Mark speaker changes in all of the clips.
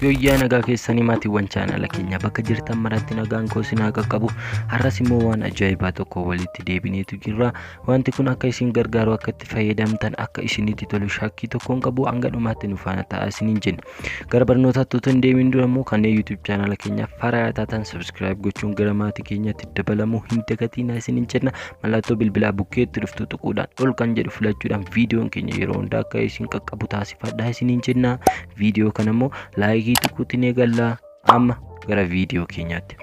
Speaker 1: Yoyyaa nagaa keessanii maatiiwwan chaanala keenya bakka jirtan maratti nagaan koo isin haa qaqqabu har'as immoo waan ajaa'ibaa tokko walitti deebineetu jirra wanti kun akka isin gargaaru akka itti fayyadamtan akka isinitti tolu shakkii tokkoon qabu hanga dhumaatti nu faana ta'a isiniin jenna gara barnootaatti utuu hin deemin dura immoo kanneen yuutuub chaanala keenya faaraa taatan sabiskiraayib gochuun gara maatii keenyatti dabalamuu hin dagatinaa isiniin jenna Mallattoo bilbilaa bukkeetti dhuftu tuquudhaan ol kan jedhu filachuudhaan viidiyoon keenya yeroo hundaa akka isin qaqqabu taasifadhaa isiniin jenna. Viidiyoo kana immoo laayikii tuquutti ni galla. Amma gara viidiyoo keenyaatti.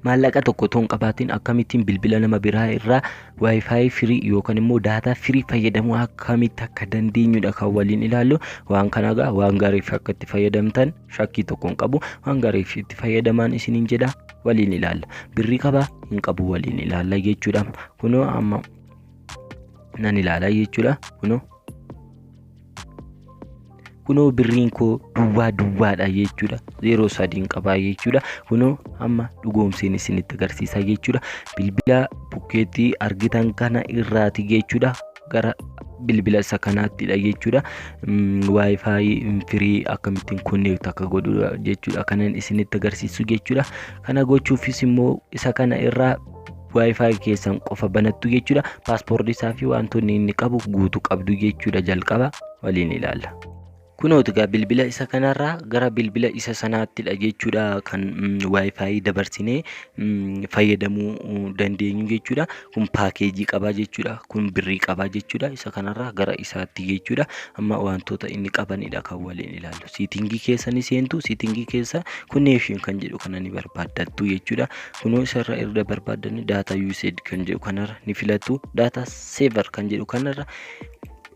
Speaker 1: Maallaqa tokko otoo hin qabaatiin akkamittiin bilbila nama biraa irraa waayifaayi firii yookaan immoo daataa firii fayyadamuu akkamitti akka dandeenyudha kan waliin ilaallu. Waan kana egaa waan gaariif akka itti fayyadamtan shakkii tokko hin qabu hanga reeksitti fayyadamaan isiniin jedha waliin ilaalla birrii qabaa hin qabu waliin ilaalla jechuudha kunoo amma nan ilaala jechuudha kunoo kunoo birriin koo duwwaa duwwaadha jechuudha zeeroo sadiin qabaa jechuudha kunoo amma dhugoomseen isinitti agarsiisa jechuudha bilbila bukkeetti argitan kana irraati jechuudha gara bilbila isa kanaattidha jechuudha. Wi-Fi firii akkamittiin konneekti akka godhu jechuudha kanan isinitti agarsiisu jechuudha. Kana gochuufis immoo isa kana irraa Wi-Fi keessan qofa banattu jechuudha. Paaspoortii isaa fi wantoonni inni qabu guutuu qabdu jechuudha jalqaba waliin ilaalla. Kunooti egaa bilbila isa kanarraa gara bilbila isa sanaattidha jechuudha kan waayifaayi dabarsinee fayyadamuu dandeenyu jechuudha. Kun paakeejii qabaa jechuudha. Kun birrii qabaa jechuudha. Isa kanarraa gara isaatti jechuudha. Amma wantoota inni qabanidha kan waliin ilaallu. Siitingii keessa ni seentu. Siitingii keessa connection kan jedhu kana ni barbaaddattu jechuudha. Kunoo isarra erga barbaaddanne data usage kan jedhu kanarra ni filattu. Data saver kan jedhu kanarra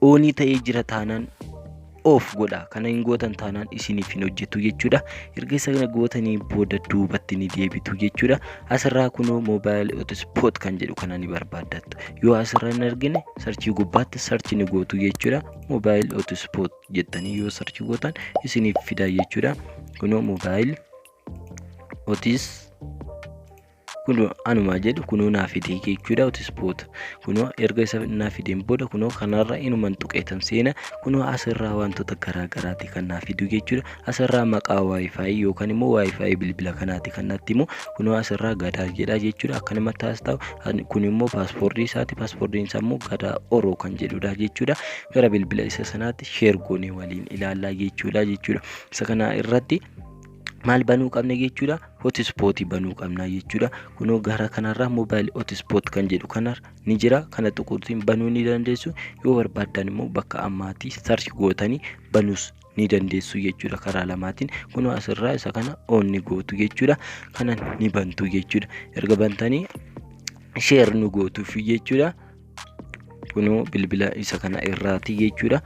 Speaker 1: oonii ta'ee jira taanaan of godha kana hin gootan taanaan isiniif hin hojjetu jechuudha erga sana gootanii booda duubatti ni deebitu jechuudha asirraa kunoo moobaayil otispoot kan jedhu kana ni barbaaddattu yoo asirra hin argine sarchii gubbaatti sarchi ni gootu jechuudha moobaayil otispoot jettanii yoo sarchi gootan isiniif fida jechuudha kunoo moobaayil otis kunoo anumaa jedhu kunoo naa fidee jechuudha hotispoota kunoo erga isa naa fideen booda kunoo kanarra inuman tuqeetan seena kunoo asirraa wantoota garaa garaati kan naa fidu jechuudha asirraa maqaa waayifaayi yookaan immoo waayifaayi bilbila kanaati kan natti immoo kunoo asirraa gadaa jedha jechuudha akkanuma taas ta'u kun immoo paaspoortii isaati paaspoortiin isaa immoo gadaa oroo kan jedhudha jechuudha gara bilbila isa sanaatti sheergoonii waliin ilaallaa jechuudha jechuudha isa kana irratti maal banuu qabna jechuudha hotispooti banuu qabna jechuudha kunoo gara kanarraa moobaayil hotispoot kan jedhu kanar ni jira kana tuquutiin banuu ni dandeessu yoo barbaaddan immoo bakka ammaatii sarchi gootanii banuus ni dandeessu jechuudha karaa lamaatiin kunoo asirraa isa kana oon ni gootu jechuudha kana ni bantu jechuudha erga bantanii sheer nu gootuuf jechuudha kunoo bilbila isa kana irraati jechuudha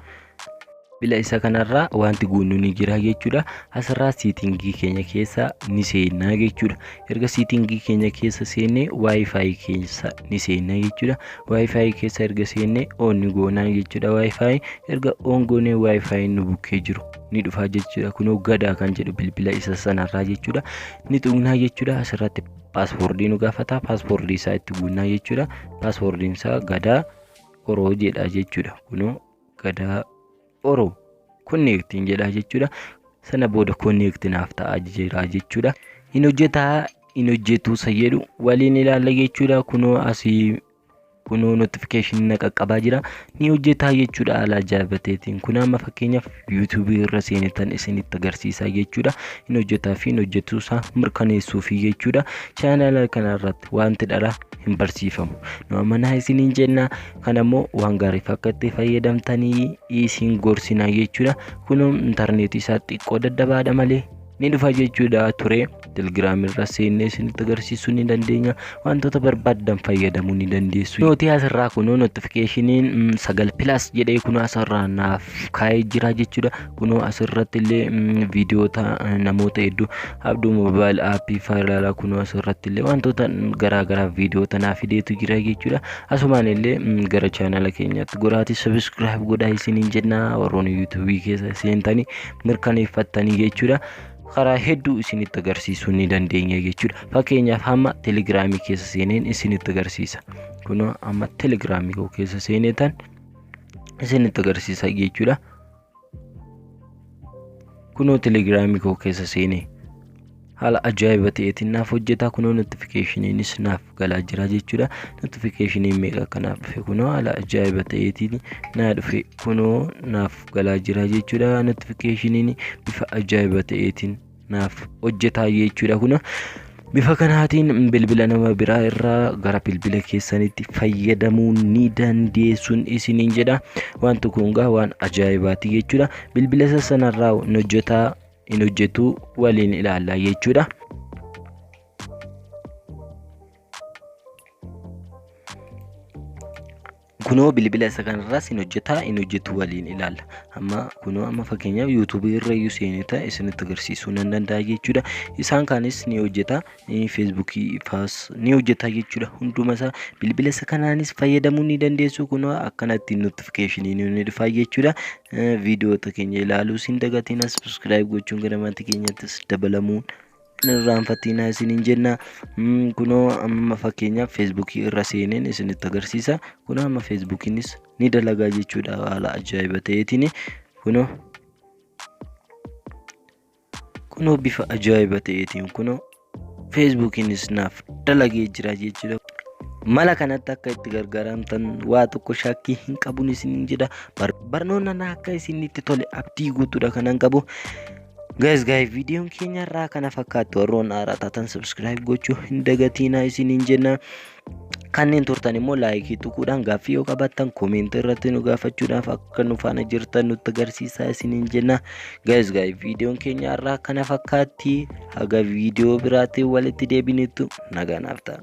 Speaker 1: bila isa kanarraa wanti guunnu ni jira jechuudha asirraa siitingii keenya keessa ni seennaa jechuudha erga siitingii keenya keessa seennee waayifaayi keessa ni seennaa jechuudha waayifaayi keessa erga seennee oon ni goonaa jechuudha waayifaayi erga oon goonee waayifaayi nu bukkee jiru ni dhufaa jechuudha kunoo gadaa kan jedhu bilbila isa sanarraa jechuudha ni tuqnaa jechuudha asirratti paaspoortii nu gaafata paaspoortii isaa itti guunnaa jechuudha paaspoortiin isaa gadaa oroo jedha jechuudha kunoo Gadaa Oro konneektiin jedha jechuudha. Sana booda konneekti naaf ta'a jira jechuudha. Hin hojjetaa hin hojjetuu isa jedhu waliin ilaalla jechuudha. Kunoo asii kunoo notification na qaqqabaa jira. Ni hojjetaa jechuudha haala ajaa'ibateetiin. Kun amma fakkeenyaaf YouTube irra seenetan isinitti agarsiisaa jechuudha. Hin hojjetaa fi hin hojjetuu isaa mirkaneessuufi jechuudha. Chaanaala kanarratti wanti dhara hin barsiifamu. Nu amanaa isiniin jenna. Kan ammoo waan gaariif akka itti fayyadamtanii isin gorsinaa jechuudha. Kunoo intarneetii isaa xiqqoo dadhabaadha malee ni dhufa jechuudha ture. Telegiraamii irra seennee isinitti agarsiisuu ni dandeenya. Wantoota barbaaddan fayyadamuu ni dandeessu. Nuti asirraa kunoo notifikashiniin sagal pilas jedhee kunoo asirraa naaf kaa'ee jira jechuudha. kunoo asirratti illee viidiyoota namoota hedduu abduu moobaayil aappii faayilaalaa kunoo asirratti illee wantoota garaa garaa viidiyoota naa fideetu jira jechuudha asumaan illee gara chaanala keenyaatti goraatii sabiskiraayib godhaa isiniin jennaa warroon yuutuubii keessa seentanii mirkaneeffattanii jechuudha karaa hedduu isinitti agarsiisuu ni dandeenya jechuudha fakkeenyaaf hamma telegiraamii keessa seeneen isinitti agarsiisa kunoo amma telegiraamii koo keessa seeneetan isinitti agarsiisa jechuudha kunoo telegiraamii koo keessa seene haala ajaa'iba ta'eetiin naaf hojjetaa kunoo notifikashiniinis naaf galaa jira jechuudha notifikashiniin meeqa akka naaf dhufe kunoo haala ajaa'iba ta'eetiin naa dhufe kunoo naaf galaa jira jechuudha notifikashiniin bifa ajaa'iba ta'eetiin naaf hojjetaa jechuudha kuna bifa kanaatiin bilbila nama biraa irraa gara bilbila keessanitti fayyadamuu ni dandeessuun isiniin jedha waan tokko hungaa waan ajaa'ibaati jechuudha bilbila isa sanarraa hin hojjetaa hin hojjetu waliin ilaalla jechuudha. Kunoo bilbila isa kanarraas hin hojjetaa hin hojjetu waliin ilaalla. Amma kunoo amma fakkeenyaaf yuutuubii irra iyyuu seenee ta'e isinitti agarsiisuu nan danda'a jechuudha. Isaan kaanis ni hojjeta. Feesbuukii faas ni hojjeta jechuudha. Hunduma isaa bilbila isa kanaanis fayyadamuu ni dandeessu. Kunoo akkanatti notifikashinii ni dhufa jechuudha. Viidiyoota keenya ilaaluus hin dagatina. Subscribe gochuun gara maatii keenyattis dabalamuun hin irraanfatiinaa isiniin jenna kunoo amma fakkeenyaaf feesbuukii irra seeneen isinitti agarsiisa kunoo amma feesbuukiinis ni dalagaa jechuudha haala ajaa'iba ta'eetiin kunoo kunoo bifa ajaa'iba ta'eetiin kunoo feesbuukiinis naaf dalagee jira jechuudha. mala kanatti akka itti gargaaramtan waa tokko shakkii hin qabun isiniin jedha barnoonni akka isinitti tole abdii guutuudha kanan qabu Guys guys viidiyoon keenya irraa kana fakkaatti warroon haaraa taatan subscribe gochuu hin dagatiinaa isiniin jenna. Kanneen turtan immoo laayikii tuquudhaan gaaffii yoo qabaattan koomeentii irratti nu gaafachuudhaaf akka nu faana jirtan nutti agarsiisaa isiniin jenna. Guys guys viidiyoon keenya irraa kana fakkaatti haga viidiyoo biraatiin walitti deebinutti nagaan nuuf ta'a.